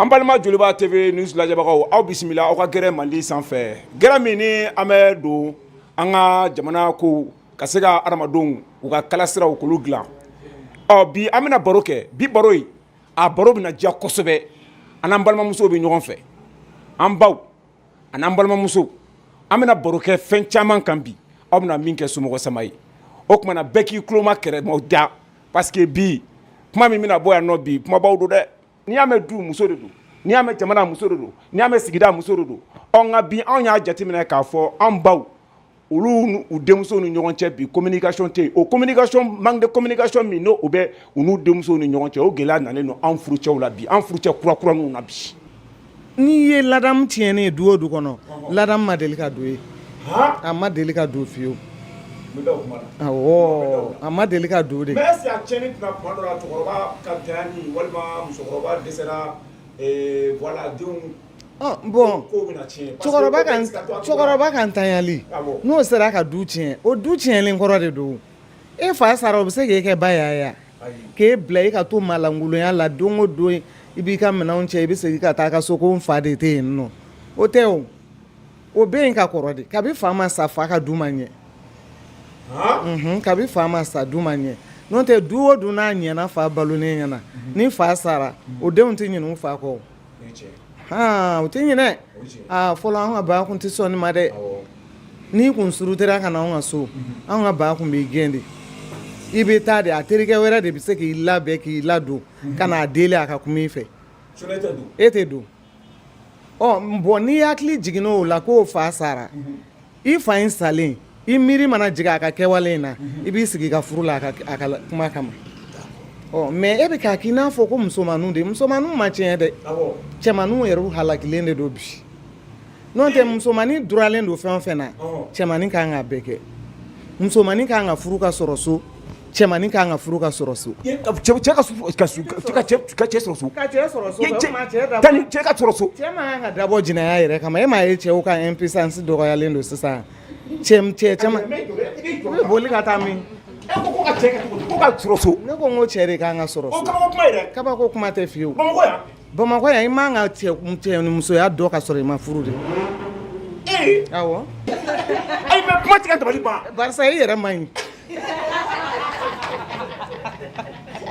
An balima Joliba TV news lajɛbagaw aw bisimila aw ka gɛrɛ Mali sanfɛ gɛrɛ min ni an bɛ don an ka jamana ko ka se ka adamadenw u ka kalasiraw k'olu dilan ɔ bi an bɛna baro kɛ bi baro in a baro bɛna diya kosɛbɛ an n'an balimamusow bɛ ɲɔgɔn fɛ an baw an n'an balimamusow an bɛna baro kɛ fɛn caman kan bi aw bɛna min kɛ somɔgɔ sama ye o tuma na bɛɛ k'i tuloma kɛrɛ mada parce que bi kuma min bɛna bɔ yan nɔ bi kumabaw don dɛ n'i y'a mɛn du muso de don n'i y'a mɛn jamana muso de don n'i y'a mɛn sigida muso de don ɔ nka bi anw y'a jateminɛ k'a fɔ an baw olu u denmusow ni ɲɔgɔn cɛ bi communication tɛ o communication manque de communication min n'o u bɛ u n'u denmusow ni ɲɔgɔn cɛ o gɛlɛya nanen don an furucɛw la bi an furucɛ kura kura ninnu na bi n'i ye ladamu tiɲɛnen ye du o du kɔnɔ ladamu ma deli ka don ye a ma deli ka don fiyewu a ma deli ka don de bɔn cɛkɔrɔba ka cɛkɔrɔba ka ntanyali n'o sera ka du tiɲɛ o du tiɲɛlen kɔrɔ de don e fa sara o bɛ se k'e kɛ ba y'a ye wa k'e bila e ka to maalankolonya la don o don i b'i ka minɛnw cɛ i bɛ segin ka taa i ka so ko n fa de tɛ yen nɔ o tɛ o o bɛ yen ka kɔrɔ de kabi fa ma sa fa ka du ma ɲɛ kabi fa ma sa du ma ɲɛ n'o tɛ du o du n'a ɲɛna fa balolen ɲɛna ni fa sara o denw tɛ ɲinɛ u fa kɔ o tɛ ɲinɛ aa fɔlɔ an ka ba kun tɛ sɔn nin ma dɛ n'i kun murutira ka na anw ka so an ka ba kun b'i gɛn de i bɛ taa de a terikɛ wɛrɛ de bɛ se k'i labɛn k'i ladon ka n'a deli a ka kuma i fɛ e tɛ don bɔn n'i hakili jiginna o la ko fa sara i fa in salen i miiri mana jigin a ka kɛwale in na i b'i sigi ka furu la a ka kuma kama mais e bɛ k'a k'i n'a fɔ ko musomanninw de musomanninw ma tiɲɛ dɛ cɛmanninw yɛrɛ halakilen de don bi n'o tɛ musomannin duralen don fɛn o fɛn na cɛmannin ka kan ka bɛɛ kɛ musomannin ka kan ka furu ka sɔrɔ so Cɛmannin ka kan ka furu ka sɔrɔ so cɛ ka so cɛ ka so cɛ ka sɔrɔ so cɛ man kan ka dabɔ jɛnɛya yɛrɛ kama e m'a ye cɛw ka impuissance dɔgɔyalen don sisan cɛ cɛ ka taa min e ko ko cɛ ka so ne ko n ko cɛ de ka kan ka sɔrɔ so kabako kuma tɛ fiye Bamakɔ yan i man kan ka cɛ ni musoya dɔn ka sɔrɔ i ma furu de ee awɔ ayi mais kuma tɛ ka dabali ban barisa i yɛrɛ man ɲi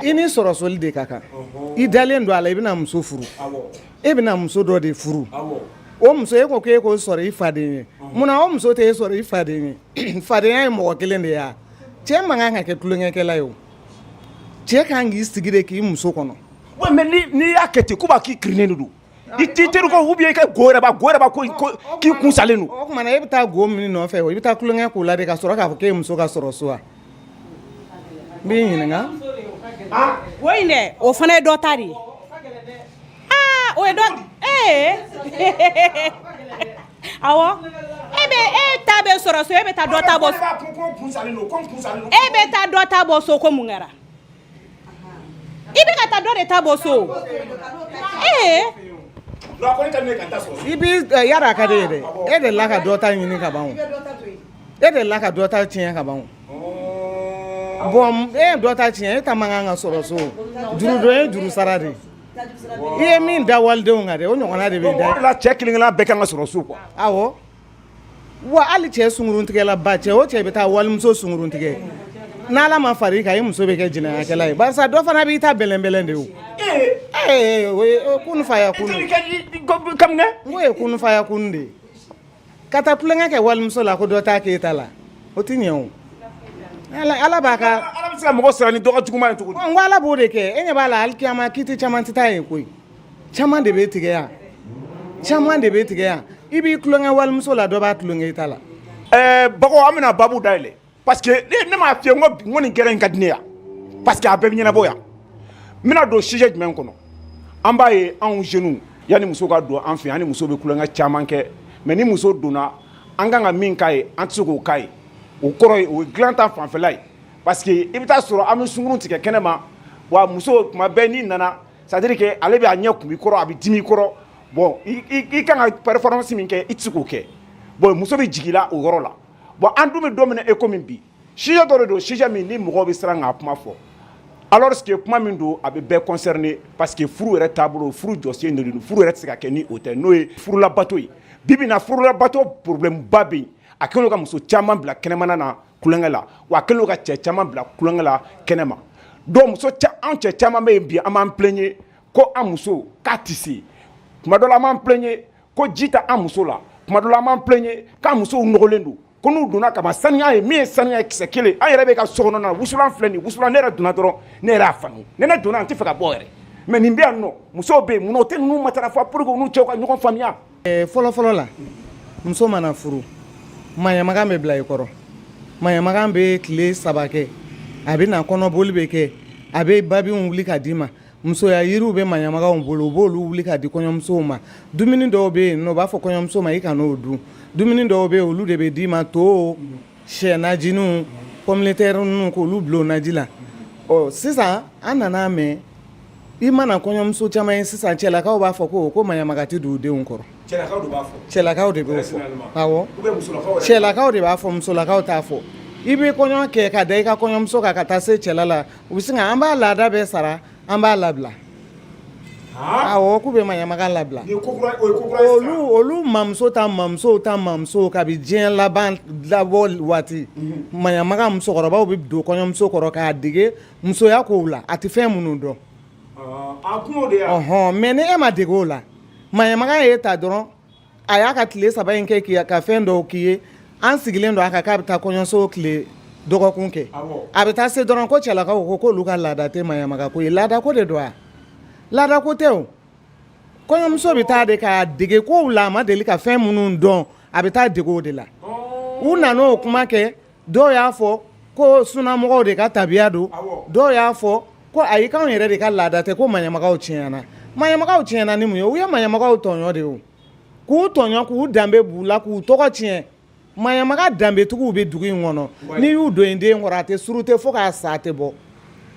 i ni sɔrɔ soli de ka kan i dalen don a la i bɛna muso furu e bɛna muso dɔ de furu o muso e ko k'e k'o sɔrɔ i faden ye munna o muso tɛ e sɔrɔ i faden ye fadenya ye mɔgɔ kelen de ye cɛ man kan ka kɛ tulonkɛkɛla ye o cɛ ka kan k'i sigi de k'i muso kɔnɔ n'i y'a kɛ ten ko b'a k'i kirinnen de don i t teri ou bien i ka go yɛrɛ b'a k'i kun salen don o tuma na e bɛ taa go min nɔfɛ i bɛ taa tulonkɛ k'o la de ka sɔrɔ k'a fɔ k'e muso ka sɔrɔ so wa n b'i ɲininka go in dɛ o fana ye dɔ ta de ye o ee e bɛ e ta bɛ sɔrɔ so e bɛ taa ta bɔ e bɛ taa dɔ ta bɔ so ko mun kɛra i bɛ ka taa dɔ de ta bɔ so ee i b'i yara a ka di ye dɛ e de la ka dɔ ta ɲini ka ban o e de la ka dɔ ta tiɲɛ ka ban o bon e ye dɔ ta tiɲɛ e ta man kan ka sɔrɔ so juru don ye juru sara de ye i ye min da walidenw kan dɛ o ɲɔgɔnna de bɛ da cɛ kelen-kelenna bɛɛ kan ka sɔrɔ so quoi awɔ wa hali cɛ sungurun tigɛla ba cɛ o cɛ bɛ taa walimuso sungurun tigɛ n'ala ma fara i kan i muso bɛ kɛ jɛnɛyakɛla ye barisa dɔ fana b'i ta bɛlɛnbɛlɛn de faya kun ye kun faya kun de ye ka taa tulonkɛ kɛ walimuso la ko dɔ t'a k'e ta la o tɛ ɲɛ ala bɛ se ka mɔgɔ sara ni dɔgɔ jugu ye tugun ala b'o de kɛ e ɲɛ b'a la alikiyama kiti caman tɛ taa yen koyi caman de bɛ tigɛ yan caman de bɛ tigɛ yan i b'i tulonkɛ walimuso la dɔ b'a tulonkɛ i ta la ɛɛ bago an bɛna babu dayɛlɛ parce que ne ne m'a f'i ye n ko bi n ko nin gɛrɛ in ka di ne ye parce que a bɛɛ bɛ ɲɛnabɔ yan n bɛna don sujet jumɛn kɔnɔ an b'a ye anw jeunes yanni muso ka don an fɛ yan an ni muso bɛ tulonkɛ caman kɛ mais ni muso donna an kan ka min k'a ye an tɛ se k'o k'a ye o kɔrɔ ye o ye dilan ta fanfɛla ye parce que i bɛ taa sɔrɔ an bɛ sungurun tigɛ kɛnɛ ma wa muso tuma bɛɛ n'i nana c'est à dire que ale bɛ a ɲɛ kumu i kɔrɔ a bɛ dimi i kɔrɔ bon i kan ka performance min kɛ i tɛ se k'o kɛ bon muso bɛ jigin i la o yɔrɔ la bon an dun bɛ don min na e ko min bi sujet dɔ de don sujet min ni mɔgɔ bɛ siran k'a kuma fɔ alors que kuma min don a bɛ bɛɛ concerner parce que furu yɛrɛ taabolo furu jɔsen de don furu yɛrɛ tɛ se ka kɛ ni o tɛ n'o ye furulabato ye bi bi in na furulabato problème ba bɛ yen a kɛlen ka muso caman bila kɛnɛmana na tulonkɛ la wa a kɛlen ka cɛ caman bila tulonkɛ la kɛnɛ ma donc muso anw cɛ caman bɛ yen bi an b'an plaigner ko an muso k'a tɛ se tuma dɔ an b'an plaigner ko ji t'an muso la tuma dɔ an b'an plaigner k'an musow nɔgɔlen don ko n'u donna ka saniya ye min ye sanu ye kisɛ kelen an yɛrɛ bɛ ka so kɔnɔna na wusulan filɛ nin wusulan ne yɛrɛ donna dɔrɔn ne yɛrɛ y'a faamu ne ne donna an tɛ fɛ ka bɔ yɛrɛ mɛ nin bɛ yan nɔ musow bɛ yen munna o tɛ ninnu matarafa pour que u n'u cɛw ka ɲɔgɔn faamuya fɔlɔfɔlɔ la muso mana furu maɲamagan bɛ bila i kɔrɔ maɲamagan bɛ tile saba kɛ a bɛ na kɔnɔboli bɛ kɛ a bɛ babiw wuli k'a d'i ma musoya yiriw bɛ maɲamaganw bolo u b'oolu wuli k'a di kɔɲɔmusow ma dumuni dɔw bɛ yen n'u b'a fɔ kɔɲɔmuso ma i kan'o dun dumuni dɔw bɛ olu de bɛ d'i ma to shɛ najiniw pɔmitɛri ninnu k'olu bila o naji la ɔ sisan an nana mɛn i mana kɔɲɔmuso caman ye sisan cɛlakaw b'a fɔ ko ko maɲamaka tɛ don u denw kɔrɔ cɛlakaw de b'a fɔ cɛlakaw de b'a fɔ awɔ cɛlakaw de b'a fɔ musolakaw t'a fɔ i bɛ kɔɲɔ kɛ ka da i ka kɔɲɔmuso kan ka taa se cɛla la u bɛ sin an b'a laada bɛɛ sara an b'a labila awɔ k'u bɛ maɲamaka labila olu olu mamuso ta mamuso ta mamuso kabi diɲɛ laban labɔ waati maɲamaka musokɔrɔbaw bɛ don kɔɲɔmuso kɔrɔ k'a dege musoya ko la a tɛ fɛn minnu dɔn hɔn mɛ ni e ma dege o la maɲamaka y'i ta dɔrɔn a y'a ka tile saba in kɛ ka fɛn dɔ k'i ye an sigilen don a kan k'a bɛ taa kɔɲɔso tile dɔgɔkun kɛ a bɛ taa se dɔrɔn ko cɛlakaw ko k'olu ka laada tɛ maɲamaka ko ye laada ko de don wa laada ko tɛ o kɔɲɔmuso bɛ taa de k'a dege ko la a ma deli ka fɛn minnu dɔn a bɛ taa dege o de la u nana o kuma kɛ dɔw y'a fɔ ko sunamɔgɔw de ka tabiya don dɔw y'a fɔ ko ayi anw yɛrɛ de ka laada tɛ ko maɲamakaw tiɲɛna maɲamakaw tiɲɛna ni mun ye u ye maɲamakaw tɔɲɔ de ye k'u tɔɲɔ k'u danbe b'u la k'u tɔgɔ tiɲɛ maɲamaka danbetigiw bɛ dugu in kɔnɔ n'i y'u don i den kɔrɔ a tɛ suru tɛ fo k'a sa a tɛ bɔ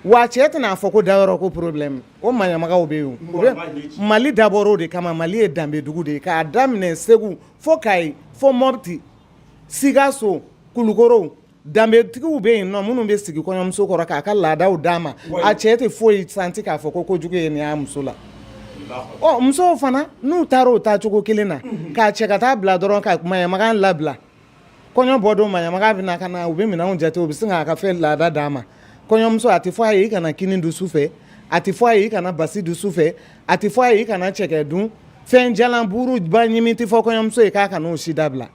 wa cɛ tɛna a fɔ ko dayɔrɔ ko porobilɛmu o maɲamakaw bɛ yen mali dabɔra o de kama mali ye danbedugu de ye k'a daminɛ segu fo kayi fo mɔti sikaso kulukoro danbetigiw bɛ yen nɔ minnu bɛ sigi kɔɲɔmuso kɔrɔ k'a ka laadaw d'a ma a cɛ tɛ foyi santi k'a fɔ ko kojugu ye nin y'a muso la ɔ musow fana n'u taara o taa cogo kelen na k'a cɛ ka taa bila dɔrɔn ka maɲamagan labila kɔɲɔ bɔ don maɲamagan bɛ na ka na u bɛ minɛnw jate u bɛ sin k'a ka fɛn laada d'a ma kɔɲɔmuso a tɛ fɔ a ye i kana kini dun su fɛ a tɛ fɔ a ye i kana basi dun su fɛ a tɛ fɔ a ye i kana cɛkɛ dun fɛn jalan buru ba ɲimi tɛ fɔ kɔɲɔmuso ye k'a k'o si dabila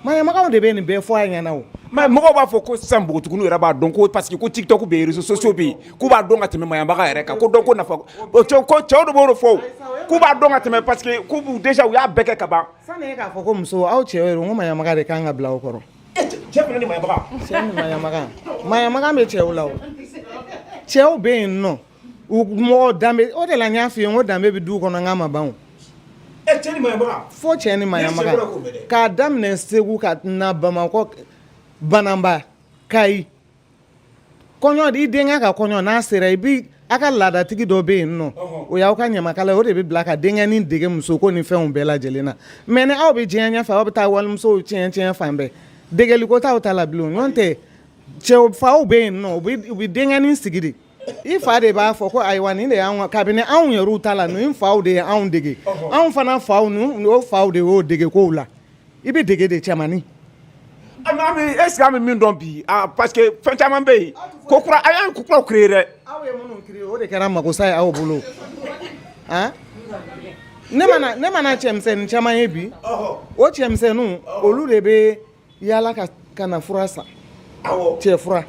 maɲamagaw de bɛ nin bɛɛ fɔ a ɲɛna mɔgɔ b'a fɔ ko sisan npogotigiw yɛrɛ b'a dɔn ko parce que ko TikTok bɛ yen réseaux sociaux bɛ yen k'u b'a dɔn ka tɛmɛ maɲamaga yɛrɛ kan ko dɔn ko nafa cɛw de b'o fɔ k'u b'a dɔn ka tɛmɛ parce que k'u déjà u y'a bɛɛ kɛ ka ban k'a fɔ ko muso aw cɛ ko maɲamaga de kan ka bila aw kɔrɔ cɛ ni maɲamaga bɛ cɛw la cɛw bɛ yen nɔ U mɔgɔ danbe o de la n y'a f'i ye ko danbe bɛ du kɔnɔ n k'a ma ban fo cɛ ni maɲamaga k'a daminɛ segu ka na bamakɔ bananba kayi kɔɲɔ i denkɛ ka kɔɲɔ n'a sera i bɛ aw ka laadatigi dɔ bɛ yen nɔ o y'aw ka ɲamakala o de bɛ bila ka denkɛnin dege muso ko ni fɛnw bɛɛ lajɛ lajɛlen na mais ni aw bɛ diɲɛ ɲɛfɛ aw bɛ taa walimusow tiɲɛ fan bɛɛ degeliko t'aw ta la bilen n'o tɛ cɛw faw bɛ yen nɔ u bɛ denkɛnin sigi de i fa de b'a fɔ ko ayiwa nin de y'anw kabini anw yɛrɛ ta la an faw de ye anw dege anw fana faw o faw de y'o dege kow la i bɛ dege de cɛmannin est-ce que an bɛ min dɔn bi parce que fɛn caman bɛ yen ko an ko kuraw créer dɛ o de kɛra mako sa ye aw bolo ne mana cɛmisɛn caman ye bi o cɛmisɛnninw olu de bɛ yaala ka na fura san cɛ fura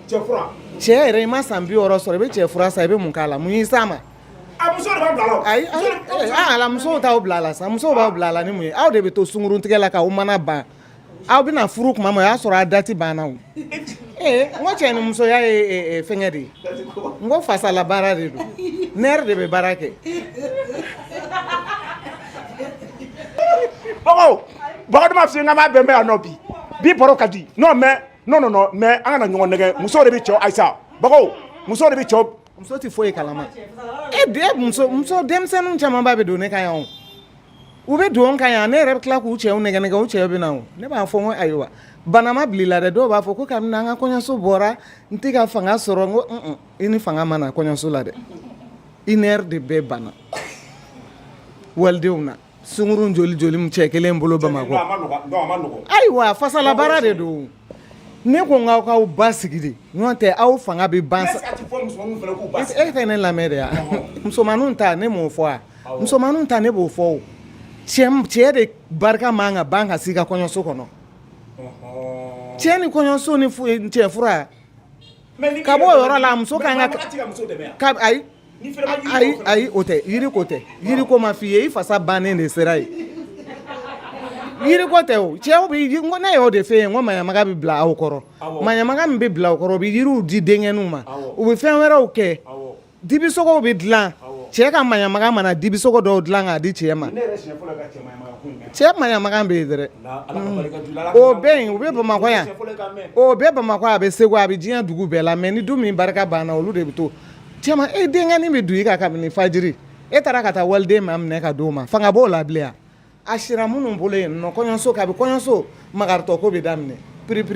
cɛ yɛrɛ i ma san bi wɔɔrɔ sɔrɔ i bɛ cɛ fura san i bɛ mun k'a la mun y'i s'a ma ayi ala musow t'aw bila a la sa musow b'aw bila a la ni mun ye aw de bɛ to sunkuruntigɛ la k'aw mana ban aw bɛna furu kuma ma o y'a sɔrɔ a dati banna o ee n ko cɛ ni musoya ye fɛngɛ de ye n ko fasala baara de don ne yɛrɛ de bɛ baara kɛ Bakari ma fiɲɛ kama bɛn bɛ yan nɔ bi bi baro ka di non mais non non mais an kana ɲɔgɔn nɛgɛ muso de bɛ cɛw ayisa bago muso de bɛ cɛw muso tɛ foyi ye kalama e bɛɛ muso muso denmisɛnnin camanba bɛ don ne kan yan u bɛ don n kan yan ne yɛrɛ bɛ tila k'u cɛw nɛgɛ nɛgɛ u cɛw bɛ na ne b'a fɔ ko ayiwa banama bila la dɛ dɔw b'a fɔ ko kabini an ka kɔɲɔso bɔra n tɛ ka fanga sɔrɔ n ko i ni fanga ma na kɔɲɔso la dɛ i ne de bɛɛ banna walidenw na sunkurun joli bɛ cɛ kelen bolo bamakɔ ayiwa fasala baara de don ne ko k'aw k'aw basigi de n'o tɛ aw fanga bɛ ban e tɛ ne lamɛn de yan musomannin ta ne m'o fɔ musomannin ta ne b'o fɔ cɛ de barika man ka ban ka s'i ka kɔɲɔso kɔnɔ cɛ ni kɔɲɔso ni cɛ fura ka bɔ o yɔrɔ la muso ayi o tɛ yiri ko tɛ yiri ko ma f'i ye i fasa bannen de sera ye yiri ko tɛ o cɛw bɛ ko ne y'o de f'e ye n ko maɲamaga bɛ bila aw kɔrɔ maɲamaga min bɛ bila aw kɔrɔ u bɛ yiriw di denkɛninw ma u bɛ fɛn wɛrɛw kɛ dibisogow bɛ dilan cɛ ka maɲamaga mana dibisogo dɔw dilan k'a di cɛ ma cɛ maɲamaga bɛ yen dɛ o bɛ yen u bɛ bamakɔ yan o bɛ bamakɔ a bɛ segu a bɛ diɲɛ dugu bɛɛ la mɛ ni du min barika banna olu de bɛ to Cɛ ma e denkɛnin bɛ don i kan kabini fajiri e taara ka taa waliden ma minɛ ka d'o ma fanga b'o la a sira minnu bolo yen nɔ kɔɲɔso kabi kɔɲɔso makarintɔ ko bɛ daminɛ p-p-p-p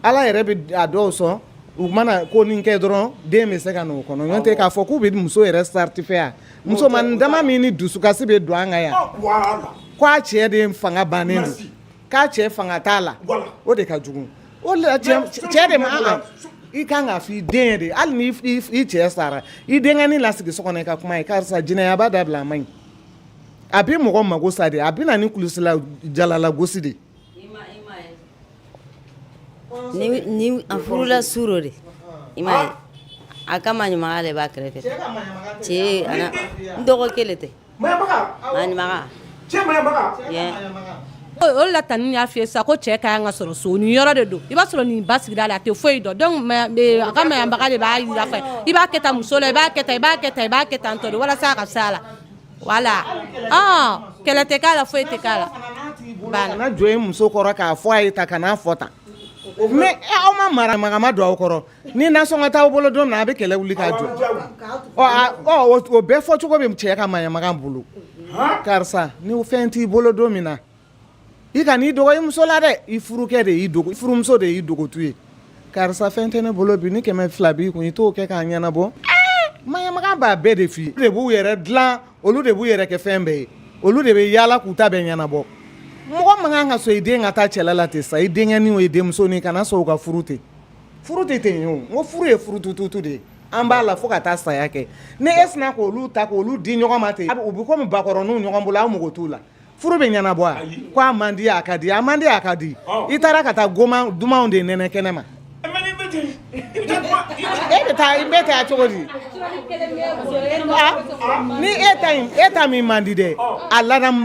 ala yɛrɛ bɛ a dɔw sɔn u mana ko ni kɛ dɔrɔn den bɛ se ka n'o kɔnɔ k'a fɔ k'u bɛ muso yɛrɛ satisfait yan musomannin dama min ni dusukasi bɛ don an kan yan k' a cɛ de fanga bannen k'a cɛ fanga t'a la o de ka jugu o de cɛ de ma i kan k'a fɔ i den de hali ni i cɛ sara i denkɛnin lasigi so kɔnɔ i ka kum'a ye karisa jɛnɛyaba dabila a man ɲi a bɛ mɔgɔ mako sa de a bɛ na ni kulusijala lagosi de a furula su dɔ de i ma a ka maɲamaga de b'a kɛrɛfɛ cɛ dɔgɔ kelen tɛ O la tan ne y'a f'i ye sa ko cɛ ka kan ka sɔrɔ so nin yɔrɔ de don i b'a sɔrɔ nin b'a sigida la a tɛ foyi dɔn a ka maɲamaga de b'a yira a fɛ i b'a kɛ tan muso la i b'a i b'a i b'a kɛ tan tɔ walasa a ka se a la wala kɛlɛ tɛ k'a la foyi tɛ k'a la kana jɔ i muso kɔrɔ k'a fɔ a ye tan kan'a fɔ tan aw ma maɲamaga don aw kɔrɔ ni nasɔngɔ t'aw bolo don min na a bɛ kɛlɛ wuli k'a jɔ o bɛɛ fɔcogo bɛ cɛ ka maɲamaga bolo karisa ni fɛn t'i bolo don min na i kan'i dogo i muso la dɛ i furukɛ de y'i furumuso de y'i dogotu ye karisa fɛn tɛ ne bolo bi ni kɛmɛ fila b'i kun i t'o kɛ k'a ɲɛnabɔ maɲamaga b'a bɛɛ de f'i ye olu de b'u yɛrɛ dilan olu de b'u yɛrɛ kɛ fɛn bɛɛ ye olu de bɛ yaala k'u ta bɛɛ ɲɛnabɔ mɔgɔ man kan ka sɔn i den ka taa cɛla la ten sa i denkɛnin o i denmuso kana sɔn u ka furu ten Furu tɛ ten ye o ko furu ye furutututu de ye an b'a la fo ka taa saya kɛ ni e sinna k' olu ta k' olu di ɲɔgɔn ma ten u bɛ kɔmi bakɔrɔninw ɲɔgɔn bolo aw mako t'u la furu bɛ ɲɛnabɔ a ko a man di a ka di a man di a ka di i taara ka taa dumanw de nɛnɛ kɛnɛ ma e bɛ taa i bɛ taa cogo di ni e e ta min man di dɛ a ladamu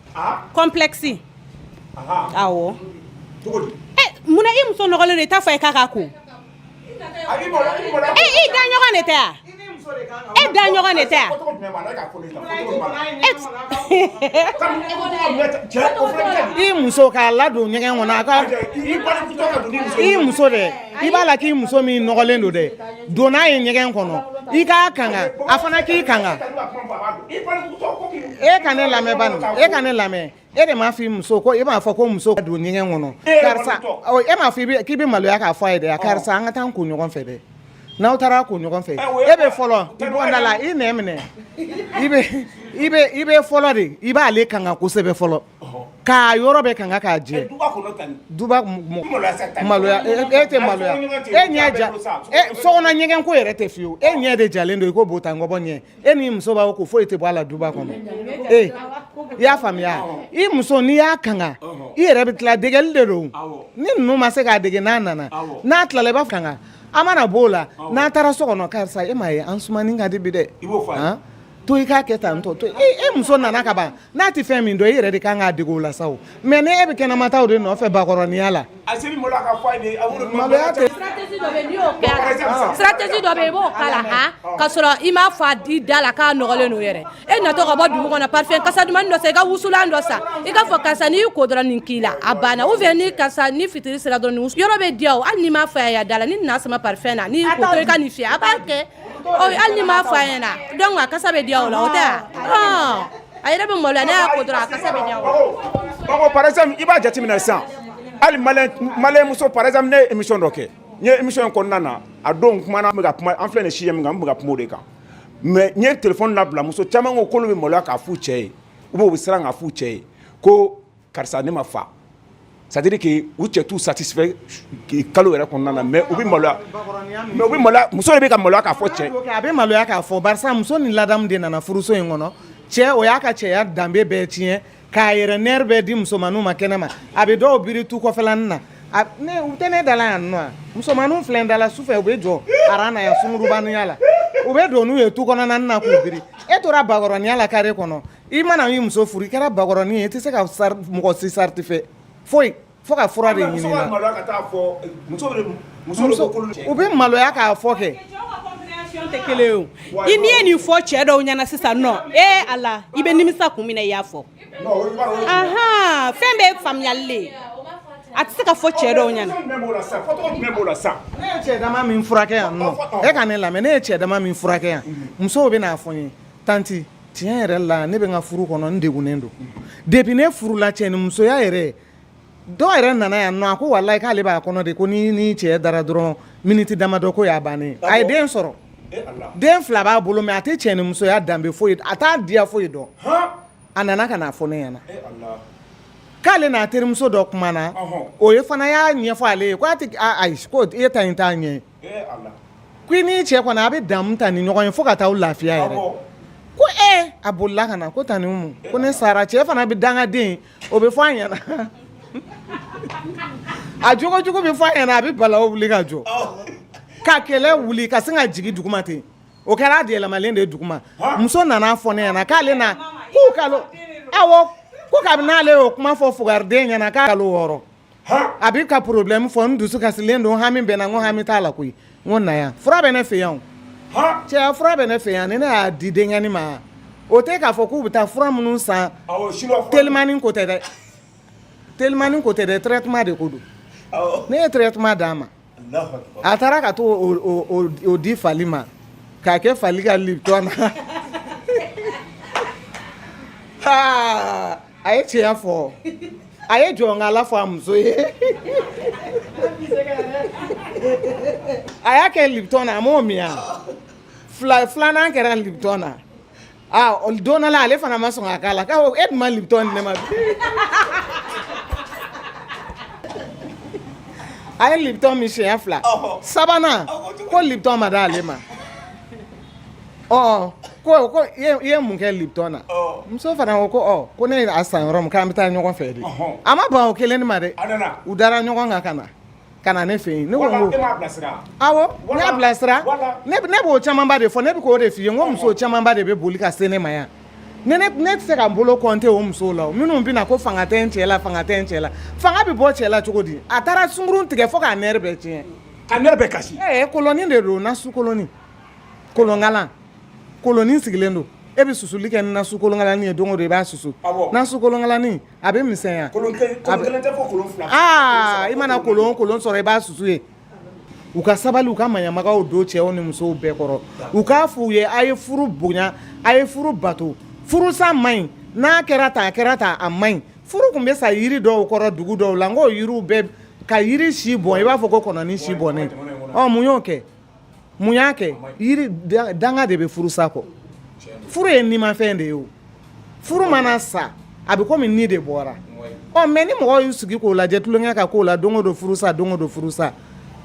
complexe awɔ eh, munna i muso nɔgɔlen don i t'a fɔ a ye k'a k'a ko e eh, i daɲɔgɔn de tɛ wa e daɲɔgɔn de tɛ wa i muso k'a ladon ɲɛgɛn kɔnɔ a ka i muso dɛ i b'a la k'i muso min nɔgɔlen don dɛ don n'a ye ɲɛgɛn kɔnɔ i k'a kanga a fana k'i kanga e ka ne lamɛn bani e ka ne lamɛn e de m'a fɔ i muso ko e m'a fɔ ko muso ka don ɲɛgɛn kɔnɔ karisa e m'a fɔ k'i bɛ maloya k'a fɔ a ye dɛ karisa an ka taa ko ɲɔgɔn fɛ dɛ n'aw taara ko ɲɔgɔn fɛ e bɛ fɔlɔ i bɔda la i nɛ minɛ i bɛ fɔlɔ de i b'ale kanga kosɛbɛ fɔlɔ K'a yɔrɔ bɛɛ kanga k'a jɛ maloya e tɛ maloya e ɲɛ ja so kɔnɔ ɲɛgɛn ko yɛrɛ tɛ fiyewu e ɲɛ de jalen don i ko bota ngɔbɔ ɲɛ e ni muso b'a ko foyi tɛ bɔ a la duba kɔnɔ e i y'a faamuya i muso n'i y'a kanga i yɛrɛ bɛ tila degeli de don ni ninnu ma se k'a dege n'a nana n'a tilala i b'a kanga a mana b'o la n'a taara so kɔnɔ karisa e m'a ye an sumanin ka di bi dɛ to i k'a kɛ tan tɔ to e muso nana ka ban n'a tɛ fɛn min dɔn e yɛrɛ de ka kan k'a dege o la sa o mais ni e bɛ kɛnɛmata de nɔfɛ bakɔrɔninya la stratégie dɔ bɛ yen i b'o k'a la ka sɔrɔ i m'a f'a di da la k'a nɔgɔlen don yɛrɛ e natɔ ka bɔ dugu kɔnɔ parfum kasa dumannin dɔ san i ka wusulan dɔ san i k'a fɔ karisa n'i y'i ko dɔrɔn nin k'i la a banna ou bien ni karisa ni fitiri sera dɔrɔn yɔrɔ bɛ diya o hali n'i m'a f'a da la n'i n'a sama parfum na n'i y'i ko to i ka nin fiyɛ a b'a kɛ ɔ hali n'i m'a fɔ a ɲɛna donc a kasa bɛ diya o la o tɛ a a yɛrɛ bɛ maloya n'a y'a ko dɔrɔn a kasa bɛ diya o la. par exemple i b'a jateminɛ sisan hali maliyɛn muso par exemple ne ye émission dɔ kɛ n ye émission in kɔnɔna na a don kumana an bɛ ka kuma an filɛ nin sujet min kan an bɛ ka kuma o de kan mais n ye téléphone labila muso caman ko k'olu bɛ maloya k'a f'u cɛ ye ou bien u bɛ siran k'a f'u cɛ ye ko karisa ne ma fa c'est à dire que u cɛ t'u satisfait kalo yɛrɛ kɔnɔna na mais u bɛ maloya mais muso de bɛ ka maloya k'a fɔ cɛ a bɛ maloya k'a fɔ barisa muso ni ladamu de nana furuso in kɔnɔ cɛ o y'a ka cɛya danbe bɛɛ tiɲɛ k'a yɛrɛ nerf bɛɛ di musomanninw ma kɛnɛ ma a bɛ dɔw biri tu kɔfɛlanin na u tɛ ne da la yan nɔ musomanninw filɛ n da la su fɛ u bɛ jɔ aran na yan sungurubaninya la u bɛ don n'u ye tu kɔnɔna na k'u biri e tora bakɔrɔninya la kare kɔnɔ I mana y'i muso furu i kɛra bakɔrɔnin ye i tɛ se ka mɔgɔ si satisfait foyi fo ka fura de ɲini na u bɛ maloya k'a fɔ kɛ tɛ kelen ye o i n'i ye nin fɔ cɛ dɔw ɲɛna sisan nɔ e Ala i bɛ nimisa kun min na i y'a fɔ fɛn bɛɛ faamuyali le a tɛ se ka fɔ cɛ dɔw ɲɛna ne ye cɛ dama min furakɛ yan e ka ne lamɛn ne ye cɛ dama min furakɛ yan musow bɛ n'a fɔ n ye tanti tiɲɛ yɛrɛ la ne bɛ n ka furu kɔnɔ n degunnen don depuis ne furula cɛ ni musoya yɛrɛ dɔw yɛrɛ nana yan a ko walayi k'ale b'a kɔnɔ de ko ni ni cɛ dara dɔrɔn miniti damadɔ ko y'a bannen a ye den sɔrɔ den fila b'a bolo mais a tɛ cɛ ni musoya danbe foyi a t'a diya foyi dɔn a nana k'a fɔ ne ɲɛna k'ale n'a terimuso dɔ kumana o ye fana y'a ɲɛfɔ ale ye k'e ta nin tɛ ɲɛ ko i n'i cɛ kɔni a bɛ damu ta ni ɲɔgɔn ye fo ka taa aw lafiya yɛrɛ ko e a bolila ka na ko tanti Umu ko ne sara cɛ fana bɛ dangaden o bɛ fɔ a ɲɛna a jogojugu bɛ fɔ a ɲɛna a bɛ balawu wuli ka jɔ ka kɛlɛ wuli ka sin ka jigin duguma ten o kɛra a yɛlɛmalen de ye duguma muso nana fɔ ne ɲɛna k'ale na k'u ka awɔ ko kabini n'ale y'o kuma fɔ fugariden ɲɛna k'a kalo wɔɔrɔ A bɛ ka porobilɛmu fɔ n dusu kasilen don hami bɛ n na ko hami t'a la koyi ko na yan fura bɛ ne fɛ yan cɛ fura bɛ ne fɛ yan ni ne y'a di denkɛnin ma o tɛ k'a fɔ k'u bɛ taa fura minnu san telimani ko tɛ dɛ telimani ko tɛ dɛ traitement de ko don ne ye traitement d'a ma A taara ka t'o di fali ma k'a kɛ fali ka lipton na a ye tiɲɛ fɔ a ye jɔnkala fɔ a muso ye a y'a kɛ lipton na a m'o min filanan kɛra lipton na don dɔ la ale fana ma sɔn k'a la e dun ma lipton di ne ma a ye lipton min siɲɛ fila sabanan ko lipton ma di ale ma ɔ ko i ye mun kɛ lipton na muso fana ko ko ko ne y'a san yɔrɔ min k'an bɛ taa ɲɔgɔn fɛ de a ma ban o kelen ma dɛ u dara ɲɔgɔn kan ka na ka na ne fɛ yen ne ko n ko awɔ ne y'a bilasira ne b'o camanba de fɔ ne bɛ k'o de f'i ye n ko muso camanba de bɛ boli ka se ne ma yan ne ne tɛ se ka n bolo kɔnte o musow la minnu bɛ na ko fanga tɛ n cɛ la fanga tɛ n cɛ la fanga bɛ bɔ cɛ la cogo di a taara sungurun tigɛ fo k'a nɛri bɛɛ tiɲɛ ka nɛri bɛɛ kasi ɛɛ kolonin de don nasu kolonin kolonkalan kolonin sigilen don e bɛ susuli kɛ ni nasu kolonkalani ye don o don i b'a susu nasu kolonkalani a bɛ misɛnya aa i mana kolon kolon sɔrɔ i b'a susu ye u ka sabali u ka maɲamagaw don cɛw ni musow bɛɛ kɔrɔ u k'a f'u ye a ye furu bonya a ye furu bato furusa man ɲi n'a kɛra ta a kɛra ta a man ɲi furu tun bɛ sa yiri dɔw kɔrɔ dugu dɔw la n ko yiriw bɛɛ ka yiri si bɔn i b'a fɔ ko kɔnɔnin si bɔnnen mun y'o kɛ mun y'a kɛ yiri danga de bɛ furusa kɔ furu ye nimafɛn de ye o furu mana sa a bɛ komi ni de bɔra ɔ mɛ ni mɔgɔw y'u sigi k'o lajɛ tulonkɛ ka k'o la don o don furusa don o don furusa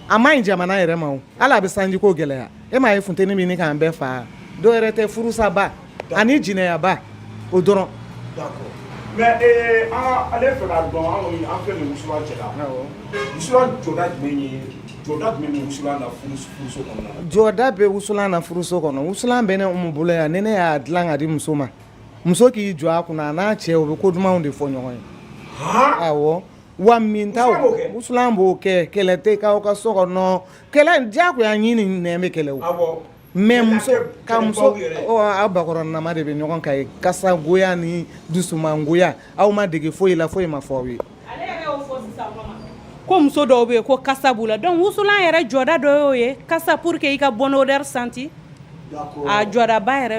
a man ɲi jamana yɛrɛ ma ala bɛ sanjiko gɛlɛya e m'a ye funteni bɛ ɲini k'an bɛɛ faa dɔw yɛrɛ tɛ furusaba ani jɛnɛyaba o dɔrɔn mais eh, ale fɛ k'a dɔn an kɔni an filɛ nin wusulan cɛ la wusulan jɔda jumɛn ye jɔda jumɛn bɛ wusulan na furuso kɔnɔna na jɔda bɛ wusulan na furuso kɔnɔ wusulan bɛ ne umu bolo yan ni ne y'a dilan ka di muso ma muso k'i jɔ a kunna a n'a cɛ o bɛ ko dumanw de fɔ ɲɔgɔn ye awɔ wa min ta wusulan b'o kɛ kɛlɛ tɛ k'aw ka so kɔnɔ kɛlɛ diyagoya ɲin ni nɛn bɛ kɛlɛ o Mais muso ka muso aw bakɔrɔn nama de bɛ ɲɔgɔn kan ye kasagoya ni dusumangoya aw ma dege foyi la foyi ma fɔ aw ye ko muso dɔw bɛ yen ko kasa b'u la donc wusulan yɛrɛ jɔda dɔ y'o ye kasa pour que i ka bonne odeur senti a jɔdaba yɛrɛ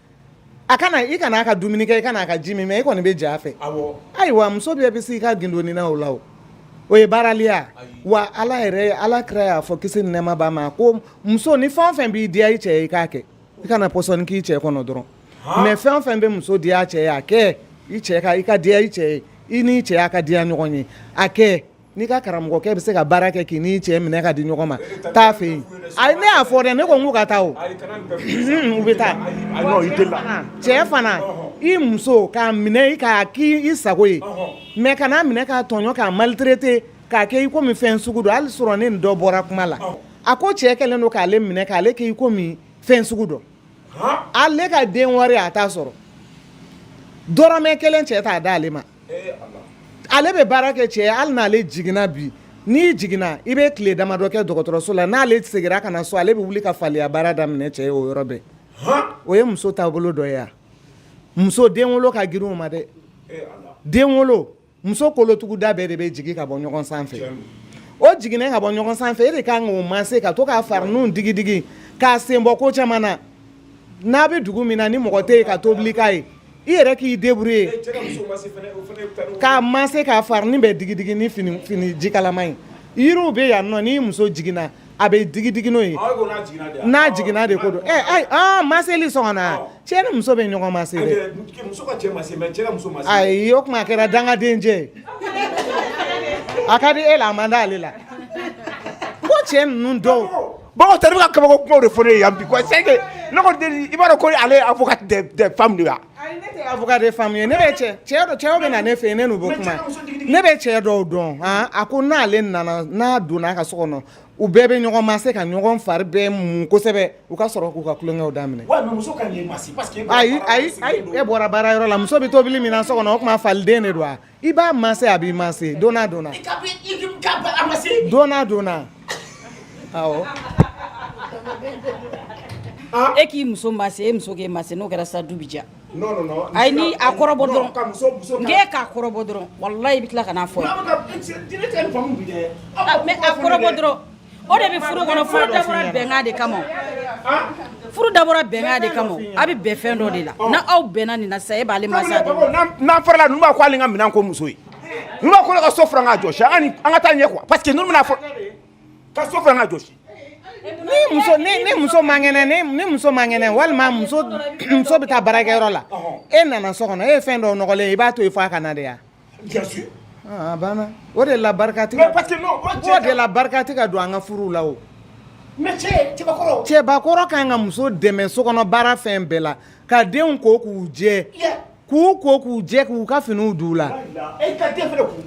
a kana i kana a ka dumuni kɛ i kana a ka ji min mais i kɔni bɛ j'a fɛ ayiwa muso bɛɛ bɛ se i ka gindoni na o la o o ye baaraliya wa ala yɛrɛ ala kira y'a fɔ kisi ni nɛɛma b'a ma ko muso ni fɛn fɛn b'i diya i cɛ ye i k'a kɛ i kana pɔsɔni k'i cɛ kɔnɔ dɔrɔn mais fɛn fɛn bɛ muso diya a cɛ ye a kɛ i cɛ ka i ka diya i cɛ ye i n'i cɛ y'a ka diya ɲɔgɔn ye a kɛ N'i ka karamɔgɔkɛ bɛ se ka baara kɛ k'i ni cɛ minɛ ka di ɲɔgɔn ma taa a fɛ yen a ne y'a fɔ dɛ ne ko k'u ka taa u bɛ taa cɛ fana i muso k'a minɛ k'a k'i sago ye mais kan'a minɛ k'a tɔɲɔ k'a maltraiter k'a kɛ i komi fɛn sugu dɔ hali surɔ ne ni dɔ bɔra kuma la a ko cɛ kɛlen don k'ale minɛ k'ale kɛ i komi fɛn sugu dɔ ale ka den wari a t'a sɔrɔ dɔrɔmɛ kelen cɛ t'a di ale ma ale bɛ baara kɛ cɛ hali n'ale jiginna bi n'i jiginna i bɛ tile damadɔ kɛ dɔgɔtɔrɔso la n'ale seginna ka na so ale bɛ wuli ka faliya baara daminɛ cɛ ye o yɔrɔ bɛɛ o ye muso taabolo dɔ ye yan muso den wolo ka girin o ma dɛ den wolo muso kolotuguda bɛɛ de bɛ jigin ka bɔ ɲɔgɔn sanfɛ o jiginnen ka bɔ ɲɔgɔn sanfɛ e de ka kan k'o maase ka to k'a farinin digidigi k'a sen bɔ ko caman na n'a bɛ dugu min na ni mɔgɔ tɛ yen ka tobili k'a ye i yɛrɛ k'i débrouiller k'a maase k'a farinin bɛɛ digidigi ni fini ni ji kalama ye yiriw bɛ yan nɔ ni muso jiginna a bɛ digidigi n'o ye n'a jiginna de ko don maaseli sɔnna cɛ ni muso bɛ ɲɔgɔn maase dɛ ayi o tuma a kɛra dangaden cɛ a ka di e la a man di ale la ko cɛ ninnu dɔw Bon o tɛ bɛ ka kabako kuma de fɔ ne ye yan bi quoi c'est que ne kɔni tɛ nin i b'a dɔn ko ale ye avocat des des femmes de ye wa, ayi ne tɛ avocat des femmes ye, ne bɛ cɛ cɛ dɔ cɛw bɛ na ne fɛ yen ne n'u bɛ kuma, ne bɛ cɛ dɔw dɔn han, a ko n'ale nana n'a donna a ka so kɔnɔ u bɛɛ bɛ ɲɔgɔn maase ka ɲɔgɔn fari bɛɛ mun kosɛbɛ u ka sɔrɔ k'u ka tulonkɛw daminɛ, ouais mais muso ka kan k'i maase parce que ayi ayi e bɔra baarayɔrɔ la muso bɛ tobili min na so kɔnɔ o tuma faliden de don wa I b'a massé a b'i massé donnant donnant awɔ e k'i muso massé e muso k'e massé n'o kɛra sa du bɛ diya ayi ni a kɔrɔbɔ dɔrɔn e k'a kɔrɔbɔ dɔrɔn walayi i bɛ tila ka n'a fɔ n ye a kɔrɔbɔ dɔrɔn o de bɛ furu kɔnɔ furu dabɔra bɛnkan de kama furu dabɔra bɛnkan de kama a bɛ bɛn fɛn dɔ de la n'aw bɛnna nin na sa e b'ale masa n'an farala ninnu b'a ko ale ka minɛn ko muso ye ninnu b'a ko ka so furan k'a jɔsi an ka taa ɲɛ quoi parce que ninnu bɛna fɔ ka so furan k'a jɔsi ni muso ni muso man kɛnɛ ni muso man kɛnɛ walima muso bɛ taa baarakɛyɔrɔ la e nana so kɔnɔ e ye fɛn dɔ nɔgɔlen i b'a to yen f'a ka na de ya banna o de la barika tɛ ka don an ka furu la o cɛbakɔrɔ kan ka muso dɛmɛ sokɔnɔ baara fɛn bɛɛ la ka denw ko k'u jɛ k'u ko k'u jɛ k'u ka finiw d'u la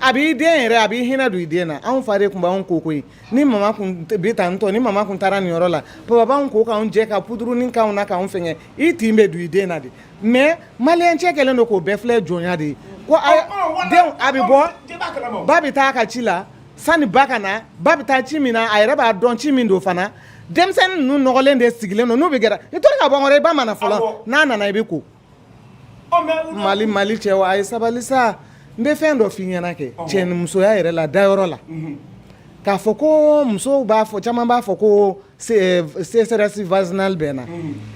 a b'i den yɛrɛ a b'i hinɛ don i den na anw fa de tun b'an ko koyi ni mama tun taara nin yɔrɔ la baba b'anw ko k'an jɛ ka pudurunin k'an na k'an fɛnkɛ i tin bɛ don i den na de mais malien cɛ kɛlen don k'o bɛɛ filɛ jɔnya de ye ko denw a bɛ bɔ ba bɛ taa a ka ci la sani ba ka na ba bɛ taa ci min na a yɛrɛ b'a dɔn ci min don fana denmisɛnnin ninnu nɔgɔlen de sigilen don n'u bɛ gɛrɛ i to ka bɔ n kɔrɔ i ba ma na fɔlɔ n'a nana i bɛ ko mali cɛw a ye sabali sa n bɛ fɛn dɔ f'i ɲɛna kɛ cɛ ni musoya yɛrɛ la dayɔrɔ la k'a fɔ ko musow b'a fɔ caman b'a fɔ ko sécheresse vaginale bɛ n na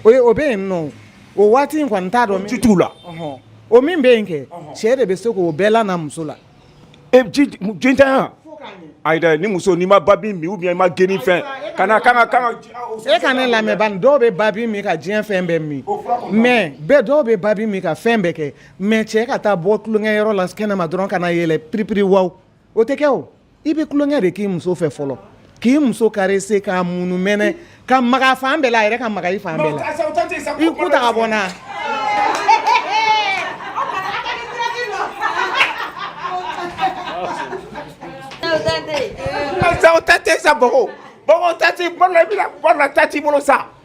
o o bɛ yen nɔ o waati in kɔni n t'a dɔn o min bɛ yen kɛ cɛ de bɛ se k'o bɛɛ lana muso la e jintanya a ni muso n'i ma babi min i ma geni fɛn ka na ka kan e ka ne lamɛn bani dɔw bɛ babi min ka diɲɛ fɛn bɛɛ min mais bɛɛ dɔw bɛ babi min ka fɛn bɛɛ kɛ mais cɛ ka taa bɔ tulonkɛyɔrɔ la kɛnɛma dɔrɔn ka na yɛlɛ piripiri wa o tɛ kɛ o i bɛ tulonkɛ de k'i muso fɛ fɔlɔ k'i muso caressé k'a munumɛnɛ ka maga fan bɛɛ la a yɛrɛ ka maga i fan bɛɛ la i ku ta ka bɔ na tati sa tati bolo sa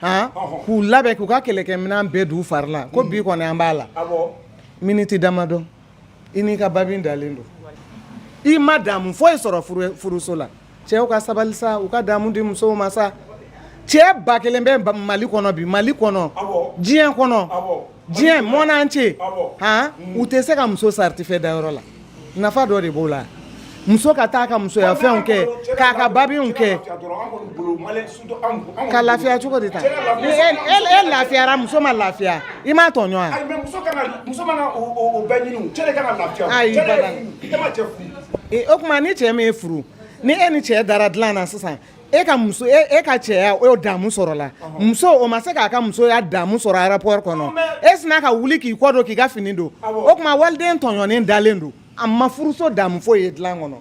k'u labɛn k'u ka kɛlɛkɛminɛn bɛɛ d'u fari la ko bi kɔni an b'a la miniti damadɔ i n'i ka babi dalen don i ma damu foyi sɔrɔ furuso la cɛw ka sabali sa u ka damu di musow ma sa cɛba kelen bɛ mali kɔnɔ bi mali kɔnɔ diɲɛ kɔnɔ diɲɛ monde entier han u tɛ se ka muso satisfait dayɔrɔ la nafa dɔ de b'o la muso ka taa ka musoya fɛnw kɛ k'a ka babiw kɛ ka lafiya cogo de ta e lafiyara muso ma lafiya i m'a tɔɲɔ wa o tuma ni cɛ min y'e furu ni e ni cɛ dara dilan na sisan e ka muso e, e ka cɛya o damu sɔrɔla muso o ma se k'a ka musoya damu sɔrɔ a rapport kɔnɔ e sinna ka wuli k'i kɔ don k'i ka fini don o tuma waliden tɔɲɔnen dalen don a ma furuso damu foyi ye dilan kɔnɔ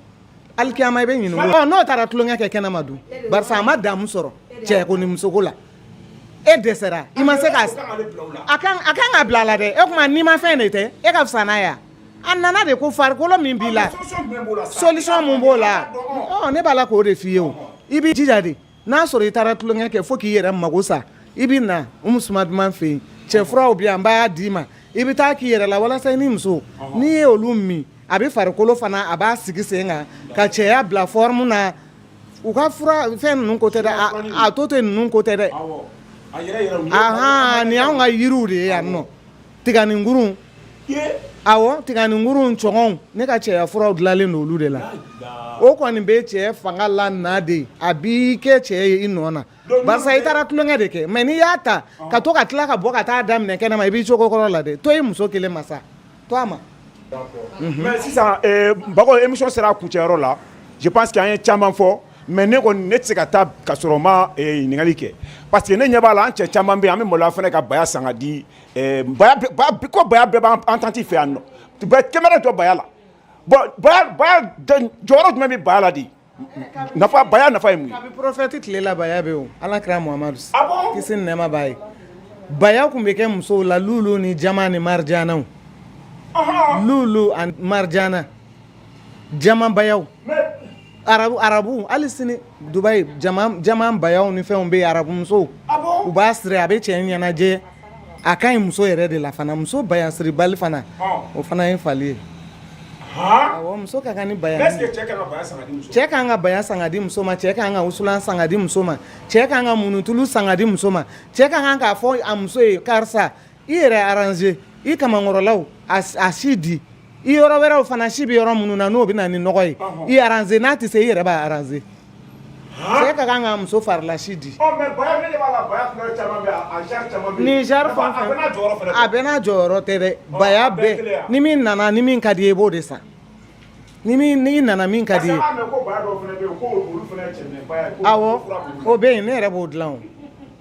alikiyama i bɛ ɲininka n'o taara tulonkɛ kɛ kɛnɛma dun barisa a ma damu sɔrɔ cɛko ni musoko la e dɛsɛra i ma se ka a kan ka bila a la dɛ o tuma nimafɛn de tɛ e ka fisa n'a ye wa A nana de ko farikolo min b'i la solisɔn mun b'o la ne b'a la k'o de f'i ye o i b'i jija de n'a sɔrɔ i taara tulonkɛ kɛ fo k'i yɛrɛ mago sa i bɛ na Umu Suma Duman fɛ yen cɛ furaw bɛ yen an b'a d'i ma i bɛ taa k'i yɛrɛ la walasa i n'i muso n'i ye olu min a bɛ farikolo fana a b'a sigi sen kan ka cɛya bila forme na u ka fura fɛn ninnu ko tɛ dɛ atote ninnu ko tɛ dɛ, awɔ, a yɛrɛ yɛrɛw, anhan nin y'anw ka yiriw de ye yan nɔ Tiganinkurun a tiganinkurun cɔgɔn ne ka cɛya furaw dilanlen don olu de la o kɔni bɛ cɛ fanga lana dɛ a b'i kɛ cɛ ye i nɔ na i taara tulonkɛ de kɛ mɛ n'i y'a ta ka to ka tila ka bɔ ka taa daminɛ kɛnɛma i b'i cogo kɔrɔ la dɛ to i muso kelen ma sa to a ma mɛ sisan ba émission sera a kuncɛyɔrɔ la je pense que an ye caman fɔ mɛ ne kɔni ne tɛ se ka taa ka sɔrɔ ma ɲininkali kɛ parce que ne ɲɛ b'a la an cɛ caman bɛ yen an bɛ maloya fana ka baya san ka di ko ba bɛɛ b' an tati fɛ yan kɛmɛ jɔ baya la jɔyɔrɔ jumɛn bɛ ba la de nafa ba nafa ye porofɛti tilela ala kɛra nɛma' ye ba tun bɛ kɛ musow la lu ni jama ni marijanaw lu lu ani marijana jama ba Arabu arabu hali sini Dubai jama bayaw ni fɛnw bɛ yen arabu musow u b'a siri a bɛ cɛ ɲɛnajɛ a ka ɲi muso yɛrɛ de la fana muso baya siribali fana o fana ye fali ye muso ka kan ni baya cɛ kan ka baya san ka di muso ma cɛ kan ka wusulan san ka di muso ma cɛ kan ka munutulu san ka di muso ma cɛ ka kan k'a fɔ a muso ye karisa i yɛrɛ aranze i kamankɔrɔlaw a si di i yɔrɔ wɛrɛw fana si bɛ yɔrɔ minnu na n'o bɛ na ni nɔgɔ ye i aranze n'a tɛ se i yɛrɛ b'a aranze cɛ ka kan ka muso farilasi di a bɛɛ n'a jɔyɔrɔ tɛ dɛ baya bɛɛ ni min nana ni min ka di i ye i b'o de san Ni min n'i nana min ka di i ye, est ce que an b'a mɛn ko baya dɔw fana bɛ yen ko olu fana ye cɛminɛbaya ye, awɔ, o bɛ yen ne yɛrɛ b'o dilan o,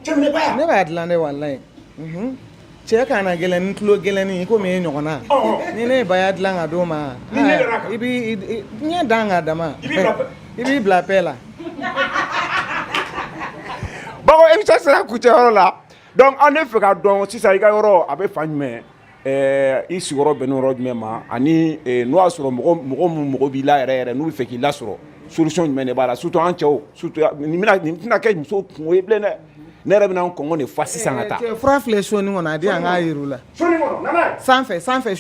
cɛminɛbaya, ne b'a dilan dɛ walayi, unhun, cɛ kannagɛlɛn ni tulogɛlɛnnin i komi e ɲɔgɔnna, ɔhɔ, ni ne ye baya dilan ka d'o ma, n'i ɲɛ dara a kan, i b'i ɲɛ dan k'a dama, i b'i bila paix, i b'i bila paix la, Bako émission sera kuncɛ yɔrɔ la, donc an bɛ fɛ k'a dɔn sisan i ka yɔrɔ a bɛ fan jumɛn? Ɛɛ i sigiyɔrɔ bɛn yɔrɔ jumɛn ma ani n'o y'a sɔrɔ mɔgɔ min mago b'i la yɛrɛ n'u bɛ fɛ k'i lasɔrɔ solution jumɛn de b'a la surtout an cɛw nin tɛna kɛ muso kunko ye bilen dɛ ne yɛrɛ bɛna n kɔgɔ de fa sisan ka taa fura filɛ so nin kɔnɔ a di an k'a yir'u la sanfɛ sanfɛ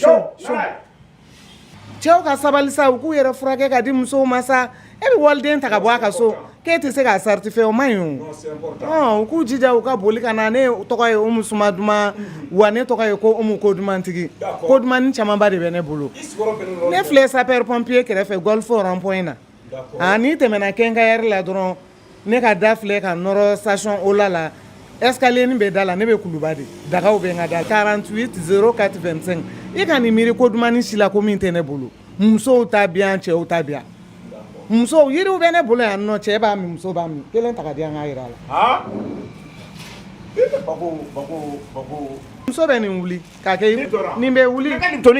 cɛw ka sabali sa u k'u yɛrɛ furakɛ ka di musow ma sa e bɛ waliden ta ka bɔ a ka so k'e tɛ se k'a satisfait o man ɲi o u k'u jija u ka boli ka na ne tɔgɔ ye Umu Suma Duman wa ne tɔgɔ ye ko Umu ko dumantigi ko dumannin camanba de bɛ ne bolo ne filɛ sapeur pompier kɛrɛfɛ Golf rond-point na aa n'i tɛmɛna quincaillerie la dɔrɔn ne ka da filɛ ka nɔrɔ station Ola la escalier nin bɛ da la ne bɛ kuluba de dagaw bɛ n ka da la 48 04 25 i ka nin miiri ko dumani si la ko min tɛ ne bolo musow ta bɛ yan cɛw ta bɛ yan musow yiriw bɛ ne bolo yan nɔ cɛ b'a min muso b'a min kelen ta ka di yan n k'a jira a la muso bɛ nin wuli k'a kɛ nin bɛ wuli